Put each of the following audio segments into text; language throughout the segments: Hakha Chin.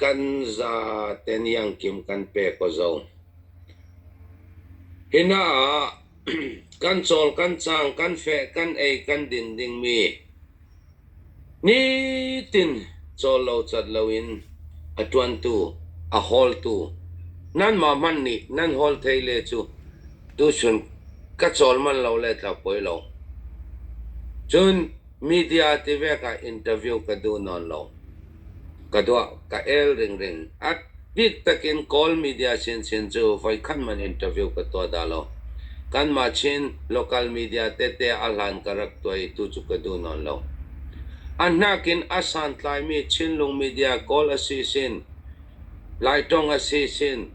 Kan zate nih angkim kan pek aw zo. Hi hna ah kan cawl, kan cang, kan feh, kan ei, kan din dingmi nitin cawl lo cat loin a ṭuantu, a hawltu nanmah hmanh nih nan hawl thei le cu tuchun ka cawl manh lo le tlau poi lo. Cun Media tivek ah interview ka duh nawn lo. Ka tuah, ka el ringring. A bik takin Kawl media chinchin cu voikhat man interview ka tuah dah lo. Kanmah Chin local media tete a hlan ka rak tuah i tu cu ka duh nawn lo. A hnak in a santlaimi Chinlung media Kawl a si sin, Laitong a si sin,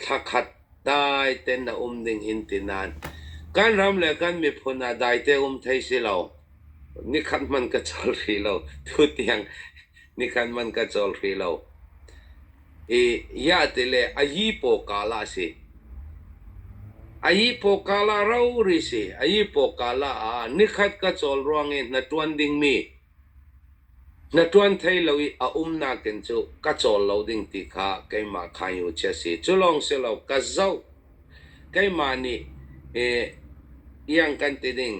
Thla khat dai ten a um ding in ti nain kan ram le kan miphun ah dai te um thei si lo. Nikhat hmanh ka cawl rih lo. Tutiang nikhat hmanh ka cawl rih lo. I iah ti le a yipaw kala a si. A yipaw kala rori si. A yipaw kala ah nikhat ka cawl ruang i na tuan dingmi Na ṭuan thai lo i a umnak in cu ka cawl lo ding ti kha keimah khainu chia a si. Cu lawng si lo, ka zoh, keimah nih eh, iang kan ti ding,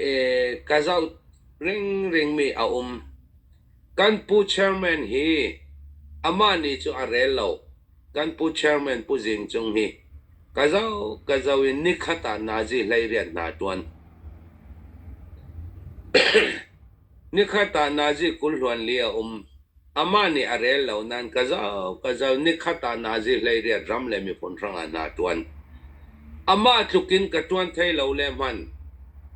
eh, ka zoh ringringmi a um. Kan pu chairman hi amah nih cu a rel lo. Kan Pu Chairman Pu Zing Cung hi ka zoh ka zoh in nikhat ah Nazi hleiriat hna a ṭuan. nikhat ah Nazi kulhluan li a um. Amah nih a rel lo nain ka zoh ka zoh nikhat ah Nazi hleiriat ram le miphun hrangah hna a ṭuan. Amah tluk in ka ṭuan thai lo le hmanh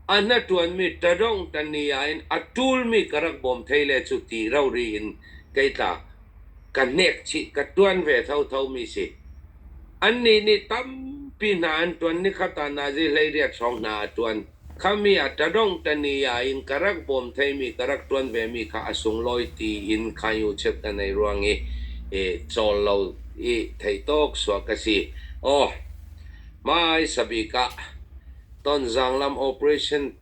a hnaṭuanmi ṭadong ṭani ah in a ṭulmi ka rak bawm thai le cu ti rori in kei tla ka hnek chih ka ṭuan ve thotho mi si. Annih nih tampi hna an ṭuan ni kha tah Nazi hleiriat hrawng hna a ṭuan. Khami ah ṭadongh ṭani ah in ka rak bawm theimi ka rak ṭuan vemi kha a sunglawi tiin Khanyu cheuh an ei ruang i i cawl lo i theih tawk suak ka si. Aw, hmaisa bik ah Tonzang lam operation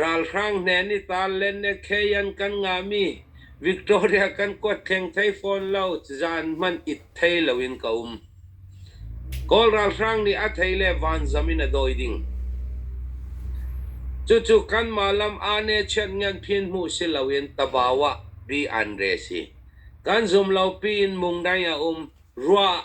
Ralhrang hne nih taanlen le khei an kan ngahmi Victoria kan kuat theng thai fawn lo, cizaan hmanh it thei loin ka um. Kawl ralhrang nih a thei le vanzam in a dawi ding. Cucu kanmah lam ane chiat ngan phin hmuh si loin tabau ah bi an re si. Kan zum lo piin mung dai a um. Ruah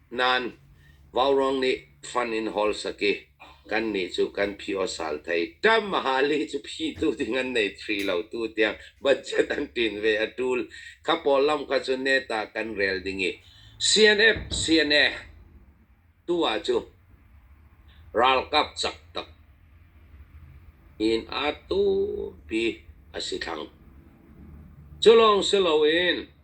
Nain Vaurang nih fund in hol saki kannih cu kan phiawsal thei. Tam mahali cu phitu ding an nei thri lo tu tiang budget an ṭin ve a ṭul. Kha pawl lam kha cu net ah kan rel ding i CNF CNA tu ah cu ralkap cak tak in atu pi a si thlang. Cu lawng si loin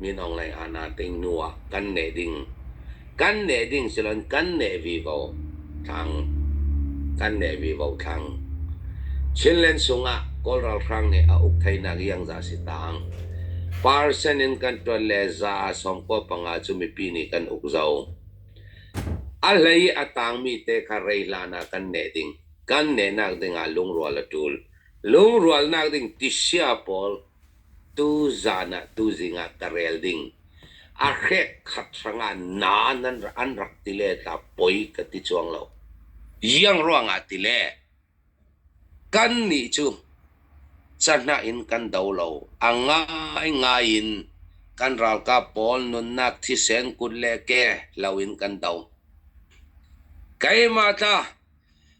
Minung lei ah naa ting hnu ah kan neh ding, kan neh ding silon kan neh vivo thlang, kan neh vivo thlang. Chinland sung ah Kawl ralhrang nih a uk theinak iangzah si taang. Parsen in kan tuan le za a som kaw panga cu mipi nih kan uk zo. A hlei i a taangmi te kha rei hlan ah kan neh ding. Kan nehnak ding ah lungrual a ṭul. Lungrualnak ding tisia pawl tuzaan ah tuzing ah ka rel ding a hrek khat hrang ah na nan an rak ti le ta poi ka ti chuang lo iang ruang ah ti le kan nih cu cahna in kan do lo a ngai ngai in kan ralkap pawl nunnak thisen kut le ke lo in kan do keima tla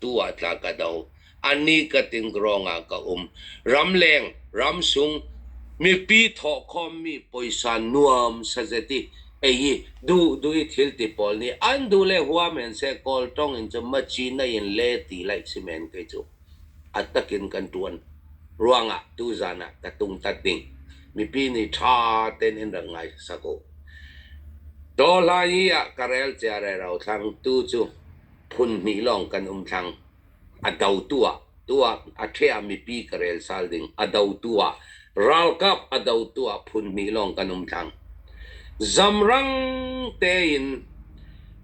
tu ah tla ka do. Annih ka tin ruangah ka um. Ramleng, ramsung, mipi thawh khawmmi poisa nuam sazeti. Ei hi du du i thil ti pawl nih an du le hua men se kawl tong in cu machina in le ti lai si men kei cu. Attakin kan tuan ruangah tu zan ah ka tung tat ding. Mipi nih tha ten in rak ngai sako. Dolai ah karel cia re ro thlang tu cu Phunhnih lawng kan um thlang. A do tu ah, tu ah a ṭheh ah mipi ka rel sal ding. A do tu ah, ralkap a do tu ah phunhnih lawng kan um thlang. Zamrang tein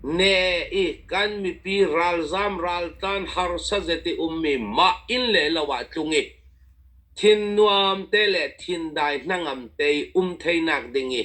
ne i kan mipi ralzam raltlan harsa zeti ummi mah inn le lo ah tlung i thin nuam te le thin dai hnangam te i um theinak ding i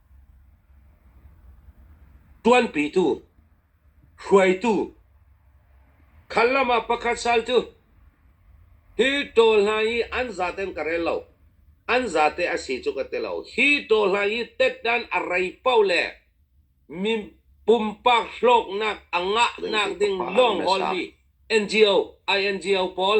Tuanpitu, hruaitu, khan lam ah pakhat sal cu hi ṭawl hna hi an zate in ka rel lo, an zate a si cu ka ti lo. Hi ṭawl hna hi tet-dan a rei paoh le pumpak hlawknak a ngahnak ding lawng ol hi NGO, INGO pawl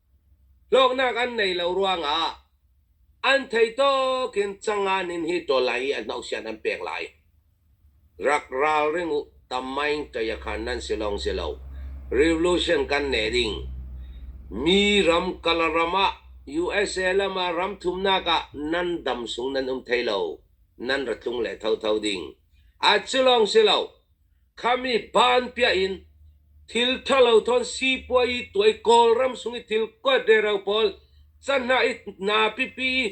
Hlawknak an nei lo ruangah an theitawk in Cangan in hi tual lai i an hnohsian an pek lai. Rak ralring u, tam maing ṭayakhan nan si lawng si lo. Revolution kan nei ding. Mi ram kala ram ah USA lam ah ram thumnak ah nan dam sung nan um thei lo. Nan ra tlung le thotho ding. A cu lawng si lo, Khami paan piah in thil ṭhalo ṭhawn sipuayi tuai Kawlram sung i thil kuat rero pawl cahhnah i naa pipi i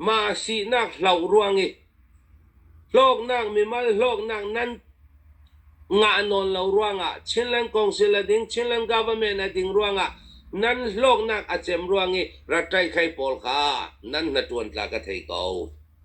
mah sihnak hloh ruang i hlawknak mimal hlawknak nan ngah nawn lo ruangah Chinland Council a ding Chinland Government a ding ruangah nan hlawknak a cem ruang i raṭaihkhei pawl kha nan hnaṭuan tla ka thei ko.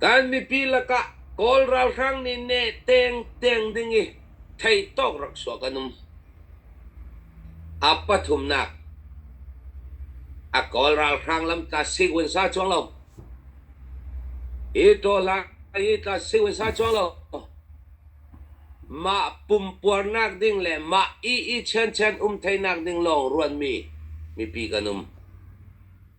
Kan mipi lakah Kawl ralhrang nih neh teeng teeng ding i thei tawk rak sua kan um. A pathumnak, a Kawl ralhrang lam tla sik uansa cuang lo. Hi tola hi tla sik uansa cuang lo. Mah pumpuarnak ding le mah i i chen chen um theinak ding lawng ruanmi mipi kan um.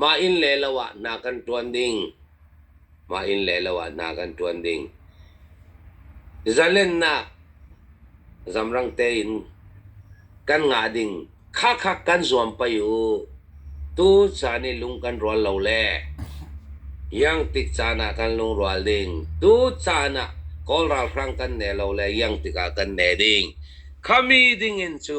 Mah inn le lo ah hna kan ṭuan ding. Mah inn le lo ah hna kan ṭuan ding. Zalennak zamrang tein kan ngah ding khakha kan zuam pei u. Tucaan i lung kan rual lo le iang tik caan ah kan lungrual ding. Tucaan ah Kawl ralhrang kan ne lo le iang tikah kan ne ding. Khami dingin cu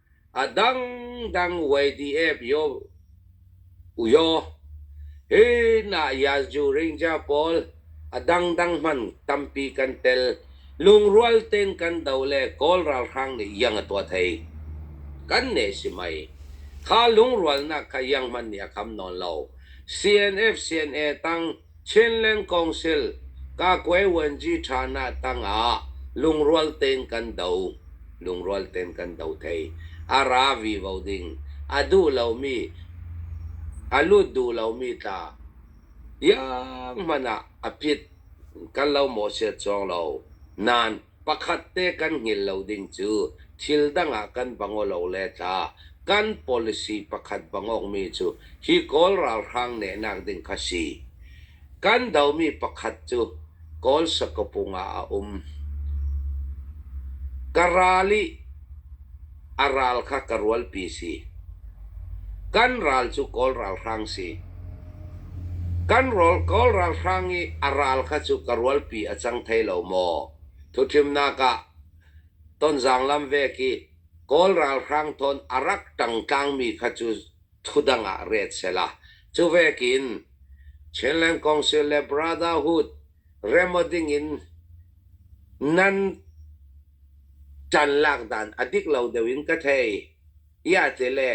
a dangdang YDF yo uyaw hi na Yazhu Ringja pawl a dangdang man tampi kan tel lungrual ten kan do le Kawl ralhrang nih iang a tuah thei kan ne si mei kha lungrualnak kha iang hmanh nih a kham nawn lo CNF CNA tang Chinland Council Kakwe Vuanci ṭhanah tangah lungrual tein kan do thei. A ra vivo ding. A duh lomi, a lut duh lomi tla tiang hmanh ah a pit kan lo mawh set cawng lo. Nain pakhat te kan hngil lo ding cu thil dang ah kan va ngaw lo le tla kan policy pakhat va ngawkmi cu hi Kawl ralhrang nehnak ding kha si. Kan domi pakhat cu Kawl sakapung ah a um. Ka ral i A ral kha ka rualpi si. Kan ral cu Kawl ralhrang si. Kan rawl Kawl ralhrang i a ral kha cu ka rualpi a cang thei lo maw? Thuthimnak ah Tonzang lam vek i Kawl ralhrang thawn a rak ṭang tlangmi kha cu thudang ah ret sela. Cu vekin Chinland Council le Brotherhood remh ding in nan can lak dan a dik lo deuh in ka thei. Iate le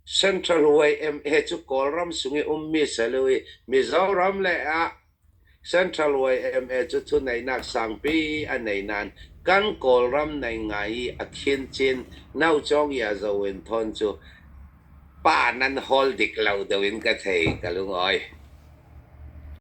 Central Way MA cu Kawlram sung i ummi si lo i Mizoram le ah Central Way MA cu thu neihnak sangpi a nei nain kan Kawlram nei ngai i a khin chin naucawng ia zo in thawn cu pa nan hawl dik lo deuh in ka thei ka lungawi.